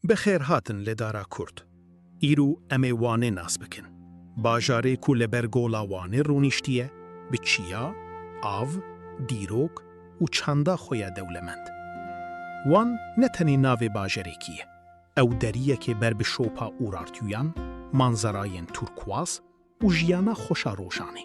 Bi xêr hatin li Dara Kurd. Îro em ê Wanê nas bikin. Bajarê ku li ber Gola Wanê rûniştiye, bi çiya, av, dîrok û çanda xwe ye dewlemend. Wan ne tenê navê bajarekî ye, ew deriyekê ber bi şopa Urartuyan, manzerayên turkuaz û jiyana xweş a rojanê.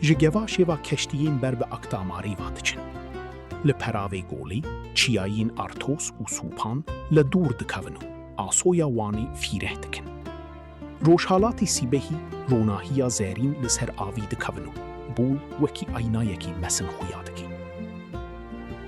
ji gevaşê va keştiyên ber bi Akdamarê va diçin. Li peravê golê çiyayên Artos û Sûpan li dûr dikevin û asoya Wanê fîreh dikin. Rojhalatê sîbehî ronahiya zerîn li ser avî dikevin û gol wekî aynayekî mesin xuya dike.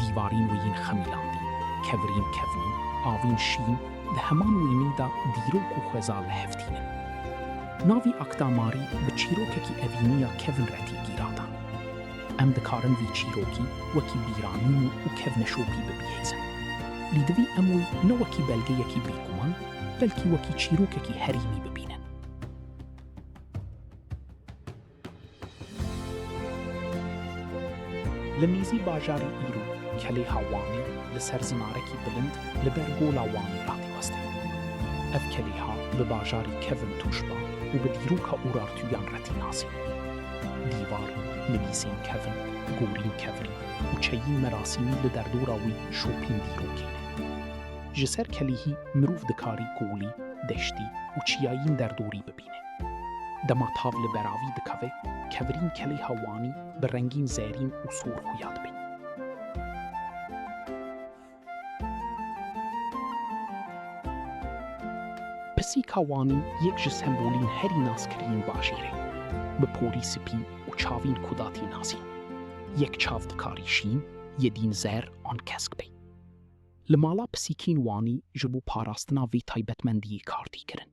Dîwarîn wî yên xemîlandî, kevirîn kevnî, avîn şîn, di heman wênî de dîrok û xweza li hev tînin. Navî Akta Marî bi çîrokekî evînî ya kevin re tê gîratan. Em dikarin vî çîrokî wekî bîranîn û kevneşopî bibihêzin. Lî divî em wî ne wekî belgeyekî bêguman, belkî wekî çîrokekî herîmî bibînin. Li nêzî bajarê Îro, kelêha Wanê li ser zinarekî bilind li ber gola Wanê hatî westin. Ev kelêha bi bajarê Kevin Tûşba û bi dîroka Urartuyan re tê nasîn. Dîvar, nivîsên Kevin, gorîn Kevrî û çeyên merasîmî li derdora wî şopîn dîrokê ne. Ji ser kelêhî mirov dikarî golî, deştî û çiyayên derdorî bibîne. dibîne. Dema tav li beravî dikeve, kevirîn kelêha Wanî bi rengîn zerîn û sor xuya dibe. Pisîka Wanî yek ji sembolîn herî naskirîn bajêr e. Bi porî spî û çavîn kudatî nasîn. Yek çav dikarî şîn, yedîn zer an kesk be. Li mala pisîkîn Wanî ji bo parastina vê taybetmendiyê kar tê kirin.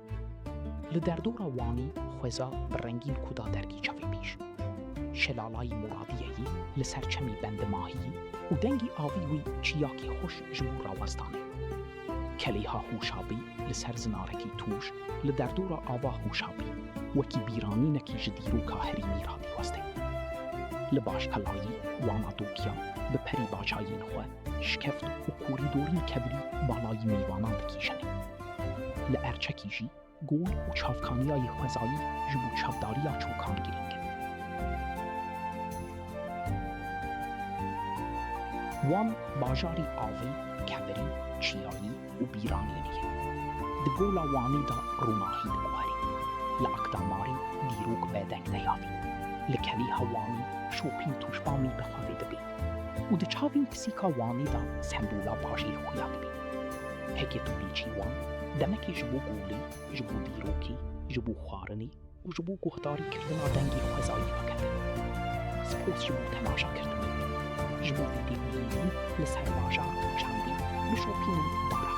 Li derdora Wanî xweza bi rengîn ku da dergî çavê bîr. Şelalayî Muradiyeyî li ser çemî bendi mahiyî û dengî avî wî çiyakî xweş ji bo rawestan e. Keleyha Hûşabî li ser zinarekî tûj li derdora ava Hûşabî wekî bîranînekî ji dîroka herî mîr hatî westin. Li Başkalayî wana Dokiya bi perî baçayên xwe Şikeft û korîdorên kebirî balayî mêvanan dikîşin. Li Erçekî jî gol û çavkaniya yê xwezayî ji bo çavdariya çokan girîng in. Wan bajarî avê, kebirî, çiyayî û bîranînê ye. Di gola Wanê de ronahî diguherî. Li Akdamarê dîrok bedeng deyavîn. Li Kelêha Wanê şopîn tûşbamî bi xwe vê dibê. Û di çavên pisîka Wanê de sembola bajêr xuya dibe. Heke tu bêçî Wan, demekê ji bo golê, ji bo dîrokê, ji bo xwarinê û ji bo guhdarî kirdina dengê xwezayî vekeve. Spas ji bo temaşa kirdinê. Ji bo vîdeoyeyî li ser bajar û çandê bişopînin bara